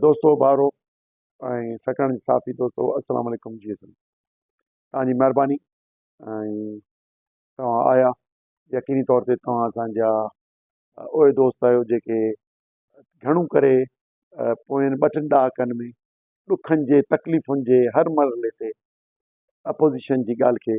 دوستو بارو ۽ سکڻ جي صافي دوستو السلام عليڪم جي سن توهان جي مهرباني ۽ توهان آيا يقيني طور تي توهان اسانجا اهي دوست آهيو جيڪي گهڻو ڪري پوين ٻه ٽن ڏهاڪن ۾ ڏکن جي تڪليفن جي هر مرحلي تي اپوزيشن جي ڳالهه کي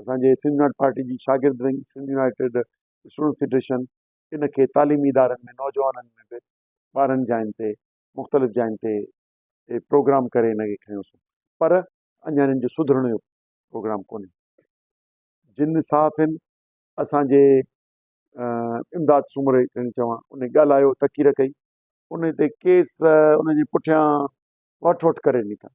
اسان جي سنڌ يونائيٽيڊ پارٽي جي شاگرد wing, Sindh united student federation ان کي تعليمي ادارن ۾ نوجوانن ۾ به ٻارهن جاين تي مختلف جاين تي پروگرام ڪري ان کي کنيوسون پر اڃا انهن جو سڌرڻ جو پروگرام ڪونهي جن صحافين اسان جي امداد سومري کڻي چوان ان ڳالهايو تقرير ڪئي ان تي ڪيس ان جي پٺيان وٺ وٺ ڪري نڪا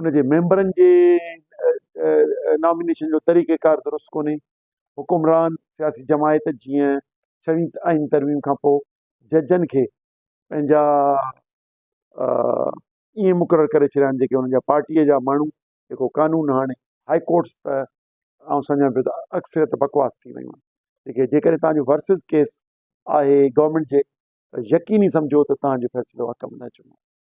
ان جي ميمبرن جي نامينيشن جو طريقه ڪار درست ڪونهي حڪمران سياسي جماعت جيئن ڇوين آئين ترميم کان پوء ججن کي پنهنجا ائين مقرر ڪري ڇڏيا آهن جيڪي انهن جا پارٽيء جا ماڻهو جيڪو قانون هاڻي هاء ڪورٽس ته آئون سمجهان پيو ته اڪثريت بڪواس ٿي ويون آهن جيڪي جيڪڏهن تهان جو ورسز ڪيس آهي گورنمينٽ جي ته يقيني سمجهو ته تهان جو فيصلو حق ۾ نه اچڻو